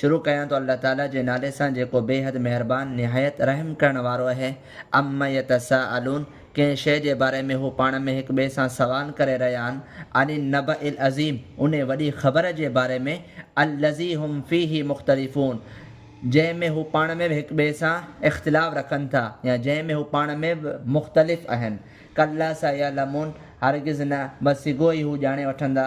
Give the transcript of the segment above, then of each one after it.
شروع ڪيان ٿو الله تعاليٰ جي نالي سان جيڪو بيحد مهربان نهايت رحم ڪرڻ وارو اهي عما يتساءلون ڪنهن شيء جي باري ۾ هو پاڻ ۾ هڪ ٻئي سان سوال ڪري رهيا آهن عن النبئ العظيم انهي وڏي خبر جي باري ۾ الذي هم فيه مختلفون جنهن ۾ هو پاڻ ۾ به هڪ ٻئي سان اختلاف رکن ٿا يا جنهن ۾ هو پاڻ ۾ به مختلف اهن ڪلا سيعلمون هرگز نه بس سگهو ئي هو ڄاڻي وٺندا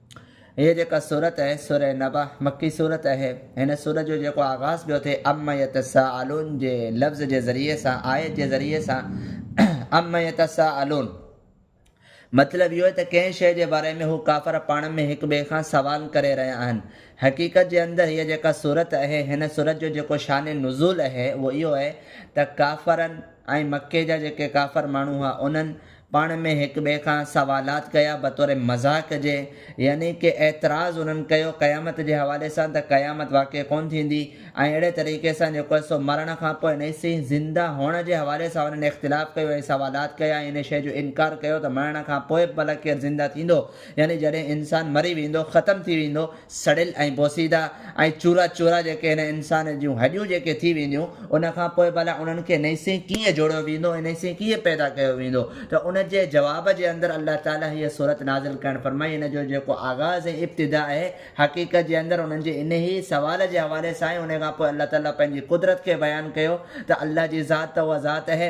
هيء جيڪا سورت آهي، سوره نبأ، مڪي سورت آهي. هن سورت جو جيڪو آغاز پيو ٿئي عما يتساءلون جي لفظ جي ذريعي سان، آيت جي ذريعي سان، عما يتساءلون، مطلب اهو ته ڪنهن شيء جي باري ۾ هو ڪافر پاڻ ۾ هڪ ٻئي کان سوال ڪري رهيا آهن. حقيقت جي اندر هيء جيڪا سورت آهي، هن سورت جو جيڪو شان نزول آهي، اهو اهو آهي ته ڪافرن ۽ مڪي جا جيڪي ڪافر ماڻهو هئا، انهن، پاڻ ۾ هڪ ٻئي کان سوالات ڪيا بطور مذاق جي يعني ڪي اعتراض انهن ڪيو قيامت جي حوالي سان ته قيامت واقع ڪونه ٿيندي ۽ اهڙي طريقي سان جيڪو آهي سو مرڻ کان پوء نئين سين زنده هئڻ جي حوالي سان انهن اختلاف ڪيو ۽ سوالات ڪيا ۽ ان شيء جو انڪار ڪيو ته مرڻ کان پوء ڀلا ڪير زنده ٿيندو يعني جڏهن انسان مري ويندو ختم ٿي ويندو سڙيل ۽ بوسيده ۽ چورا چورا جيڪي هن انسان جون هڏيون جيڪي ٿي وينديون ان کان پوء ڀلا انهن کي نئين سين ڪيئن جوڙيو ويندو ۽ نئين سين ڪيئن پيدا ڪيو ويندو ته ان جي جواب جي اندر الله تعالي هيء سورت نازل ڪرڻ فرمائي ان جو جيڪو آغاز ۽ ابتدا آهي حقيقت جي اندر انهن جي انهيء سوال جي حوالي سان آهي انهيء کان پوء الله تعالي پنهنجي قدرت کي بيان ڪيو ته الله جي ذات ته اها ذات اهي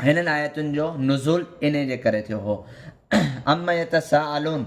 هنن آيتن جو نزول انهي جي ڪري ٿيو هو. عما يتساءلون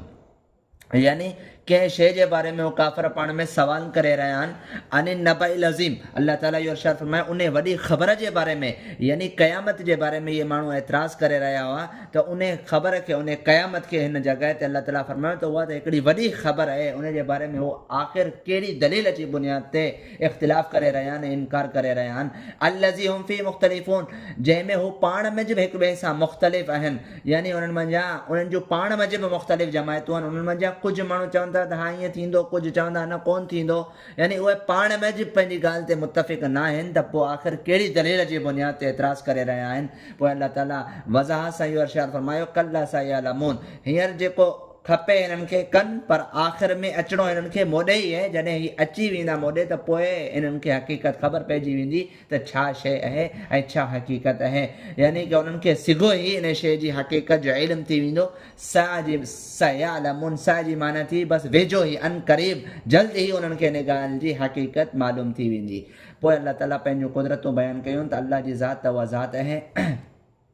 يعني ڪنهن شيء جي باري ۾ هو ڪافر پاڻ ۾ سوال ڪري رهيا آهن عن النبع العظيم الله تعالي اهو ارشاد فرمايو انهي وڏي خبر جي باري ۾ يعني قيامت جي باري ۾ اهي ماڻهو اعتراض ڪري رهيا هئا ته انهي خبر کي انهي قيامت کي هن جڳهه تي الله تعالي فرمايو ته اها ته هڪڙي وڏي خبر آهي انهي جي باري ۾ هو آخر ڪهڙي دليل جي بنياد تي اختلاف ڪري رهيا آهن ۽ انڪار ڪري رهيا آهن الذي هم فيه مختلفون جنهن ۾ هو پاڻ منجهه به هڪٻئي سان مختلف آهن يعني انهن منجهان انهن جون پاڻ منجهه به مختلف جماعتون آهن انهن منجهان ڪجهه ماڻهو چون ٿا ته ها ائين ٿيندو ڪجهه چون ٿا نه ڪونه ٿيندو يعني اهي پاڻ منجهه پنهنجي ڳالهه تي متفق ناهن ته پوء آخر ڪهڙي دليل جي بنياد تي اعتراض ڪري رهيا آهن پوء الله تعالي وضاحت سان اهو ارشاد فرمايو ڪلا سيعلمون هينئر جيڪو کپي هنن کي ڪن پر آخر ۾ اچڻو هنن کي موڏي ئي اهي جڏهن هي اچي ويندا موڏي ته پوء هنن کي حقيقت خبر پئجي ويندي ته ڇا شيء اهي ۽ ڇا حقيقت اهي يعني ڪه هنن کي سگهو هي ان شيء جي حقيقت جو علم ٿي ويندو سئ جي سئ يعلمون سئ جي معنيٰ ٿي بس ويجهو هي عن قريب جلد هي هنن کي ان ڳالهه جي حقيقت معلوم ٿي ويندي پوء الله تعالي پنهنجون قدرتون بيان ڪيون ته الله جي ذات ته اها ذات اهي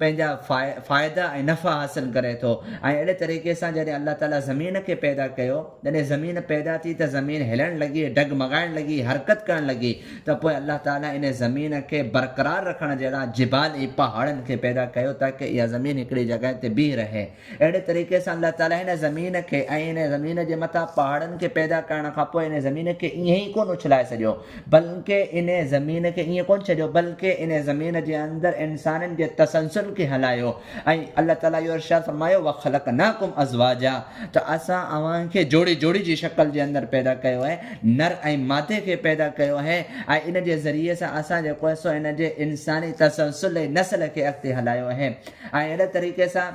پنهنجا فائدا ۽ نفع حاصل ڪري ٿو ۽ اهڙي طريقي سان جڏهن الله تعالي زمين کي پيدا ڪيو جڏهن زمين پيدا ٿي ته زمين هلڻ لڳي ڊگمگائڻ لڳي حرڪت ڪرڻ لڳي ته پوء الله تعالي ان زمين کي برقرار رکڻ جهڙا جبال ۽ پهاڙن کي پيدا ڪيو تاڪه اها زمين هڪڙي جڳهه تي بيهي رهي اهڙي طريقي سان الله تعاليٰ هن زمين کي ۽ هن زمين جي مٿان پهاڙن کي پيدا ڪرڻ کان پوء هن زمين کي ائين ئي ڪونه اڇلائي ڇڏيو بلڪه ان زمين کي ائين ڪونه ڇڏيو بلڪه ان زمين جي اندر انسانن جي تسلسل کي هلايو ۽ الله تعاليٰ اهو ارشاد فرمايو وخلقناکم ازواجا ته اسان اوهان کي جوڙي جوڙي جي شڪل جي اندر پيدا ڪيو آهي نر ۽ مادي کي پيدا ڪيو آهي ۽ ان جي ذريعي سان اسان جيڪو آهي سو هن جي انساني تسلسل ۽ نسل کي اڳتي هلايو آهي ۽ اهڙي طريقي سان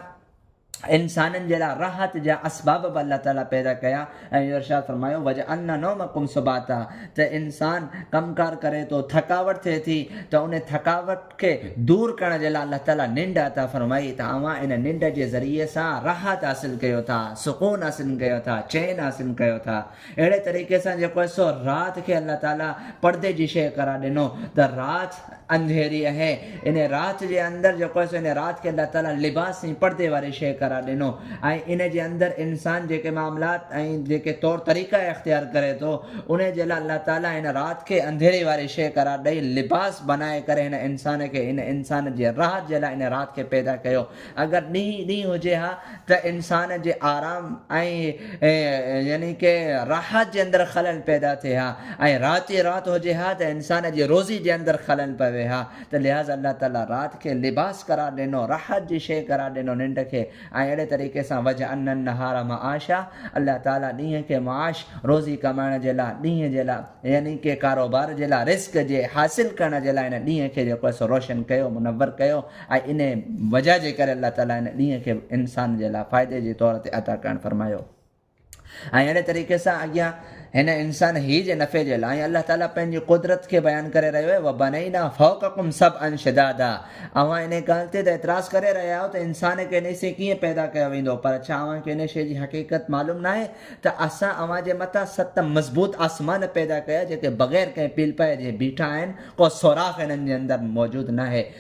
انسانن جي لاء راحت جا اسباب به الله تعالي پيدا ڪيا ۽ اهو ارشاد فرمايو وجعلنا نومکم سباتا ته انسان ڪم ڪار ڪري ٿو ٿڪاوٽ ٿئي ٿي ته ان ٿڪاوٽ کي دور ڪرڻ جي لاء الله تعالي ننڊ عطا فرمائي ته اوهان ان ننڊ جي ذريعي سان راحت حاصل ڪيو ٿا سڪون حاصل ڪيو ٿا چين حاصل ڪيو ٿا اهڙي طريقي سان جيڪو آهي سو رات کي الله تعاليٰ پڙدي جي شيء قرار ڏنو ته رات انڌيري اهي ان رات جي اندر جيڪو آهي سو ان رات کي الله تعاليٰ لباس ۽ پڙدي واري شيء قرار ڏنو ۽ ان جي اندر انسان جيڪي معاملات ۽ جيڪي طور طريقا اختيار ڪري ٿو ان جي لاء الله تعاليٰ هن رات کي انڌيري واري شيء قرار ڏئي لباس بنائي ڪري هن انسان کي هن انسان جي راحت جي لاء ان رات کي پيدا ڪيو اگر ڏينهن ئي ڏينهن هجي ها ته انسان جي آرام ۽ يعني ڪه راحت جي اندر خلل پيدا ٿئي ها ۽ رات ئي رات هجي ها ته انسان جي روزي جي اندر خلل پوي ها ته لهٰذا الله تعالي رات کي لباس قرار ڏنو راحت جي شيء قرار ڏنو ننڊ کي ۽ اهڙي طريقي سان وجعلنا النهار معاشا الله تعالي ڏينهن کي معاش روزي ڪمائڻ جي لاء ڏينهن جي لاء يعني ڪه ڪاروبار جي لاء رزق جي حاصل ڪرڻ جي لاء هن ڏينهن کي جيڪو آهي سو روشن ڪيو منور ڪيو ۽ انهيء وجهه جي ڪري الله تعاليٰ ان ڏينهن کي به انسان جي لاء فائدي جي طور تي عطا ڪرڻ فرمايو. ۽ اهڙي طريقي سان اڳيان هن انسان هي جي نفعي جي لاء ۽ الله تعاليٰ پنهنجي قدرت کي بيان ڪري رهيو آهي وبنينا فوقکم سبعا شدادا اوهان انهيء ڳالهه تي ته اعتراض ڪري رهيا آهيو ته انسان کي انهيء سين ڪيئن پيدا ڪيو ويندو پر ڇا اوهان کي انهيء شيء جي حقيقت معلوم ناهي ته اسان اوهان جي مٿان ست مضبوط آسمان پيدا ڪيا جيڪي بغير ڪنهن پيلپائي جي بيٺا آهن ڪو سوراخ انهن جي اندر موجود ناهي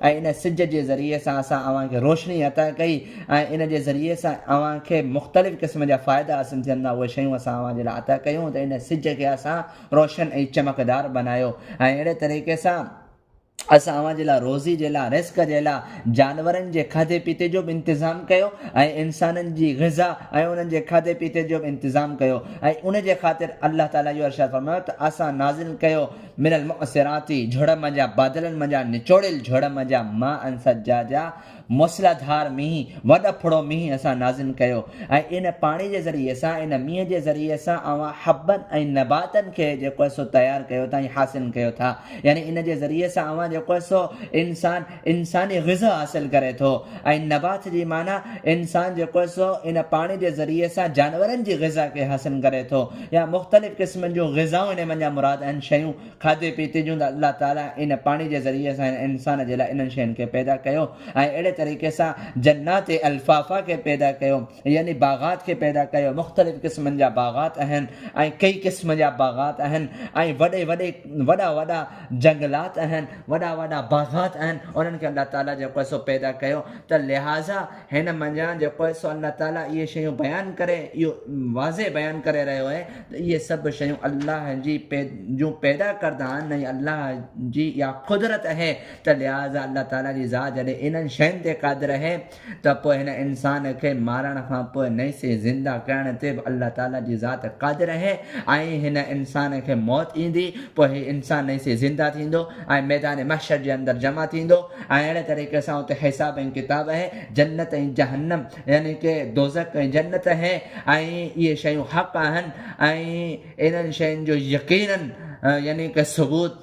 ۽ ان سج جي ذريعي سان اسان اوهان کي روشني عطا ڪئي ۽ ان جي ذريعي سان اوهان کي مختلف قسم جا فائدا حاصل ٿين ٿا اهي شيون اسان اوهان جي لاء عطا ڪيون ته ان سج کي اسان روشن ۽ چمڪدار بنايو ۽ اهڙي طريقي سان اسان اوهان جي لاء روزي جي لاء رزق جي لاء جانورن جي کاڌي پيتي جو به انتظام ڪيو ۽ انسانن جي غذا ۽ انهن جي کاڌي پيتي جو به انتظام ڪيو ۽ ان جي خاطر الله تعالي اهو ارشاد فرمايو ته اسان نازل ڪيو من المعصرات جھڙم جا بادلن منجھان نچوڙيل جھڙم جا ماء ان سجا جا موسلا ڌار مينهن وڏ ڦڙو مينهن اسان نازم ڪيو ۽ ان پاڻي جي ذريعي سان ان مينهن جي ذريعي سان اوهان حبن ۽ نباتن کي جيڪو سو تيار ڪيو ٿا ۽ حاصل ڪيو ٿا يعني ان جي ذريعي سان اوهان جيڪو سو انسان انساني غذا حاصل ڪري ٿو ۽ نبات جي معنيٰ انسان جيڪو سو ان پاڻي جي ذريعي سان جانورن جي غذا کي حاصل ڪري ٿو يا مختلف قسمن جون غذائون هن منجهان مراد اهن شيون کاڌي پيتي جون ته الله تعالي ان پاڻي جي ذريعي سان هن انسان جي لاء انهن شين کي پيدا ڪيو ۽ اهڙي طريقي سان جنات الفافا کي پيدا ڪيو يعني باغات کي پيدا ڪيو مختلف قسمن جا باغات اهن ۽ ڪئي قسم جا باغات اهن ۽ وڏي وڏي وڏا وڏا جنگلات اهن وڏا وڏا باغات اهن انهن کي الله تعالي جيڪو هي سو پيدا ڪيو ته لهٰذا هن منجهان جيڪو هي سو الله تعالي اهي شيون بيان ڪري اهو واضح بيان ڪري رهيو اهي ته اهي سڀ شيون الله جي جون پيدا ڪردا آهن ۽ الله جي اها قدرت اهي ته لهٰذا الله تعالي جي ذات جڏهن انهن شين تي قادر اهي ته پوء هن انسان کي مارڻ کان پوء نئين سري زنده ڪرڻ تي به الله تعاليٰ جي ذات قادر آهي ۽ هن انسان کي موت ايندي پوء هي انسان نئين سري زنده ٿيندو ۽ ميدان محشر جي اندر جمع ٿيندو ۽ اهڙي طريقي سان اتي حساب ۽ ڪتاب آهي جنت ۽ جهنم يعني ڪي دوزخ ۽ جنت آهي ۽ اهي شيون حق آهن ۽ انهن شين جو يقينن يعني ڪي ثبوت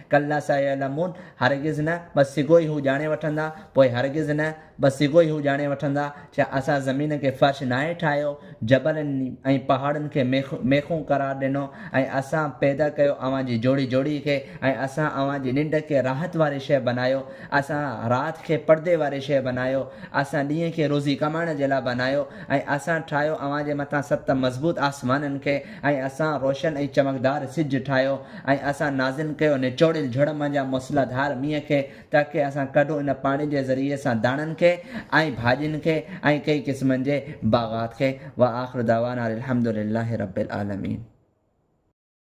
ڪلا سيعلمون، هرگز نه، بس سگهو ئي هو ڄاڻي وٺندا، پوء هرگز نه، بس سگهو ئي هو ڄاڻي وٺندا، ڇا اسان زمين کي فرش ناهي ٺاهيو، جبلن ۽ پهاڙن کي ميخون قرار ڏنو ۽ اسان پيدا ڪيو اوهان جي جوڙي جوڙي کي ۽ اسان اوهان جي ننڊ کي راحت واري شيء بنايو، اسان رات کي پڙدي واري شيء بنايو، اسان ڏينهن کي روزي ڪمائڻ جي لاء بنايو ۽ اسان ٺاهيو اوهان جي مٿان ست مضبوط آسمانن کي، ۽ اسان روشن ۽ چمڪدار سج ٺاهيو، ۽ اسان نازل ڪيو نچوڙيل جھڙ مان جا موسلا ڌار مينهن کي، تاڪه اسان ڪڍون ان پاڻي جي ذريعي سان داڻن کي، ۽ ڀاڄين کي، ۽ ڪئي قسمن جي باغات کي، وآخر دعوانا ان الحمدللّٰه رب العالمين.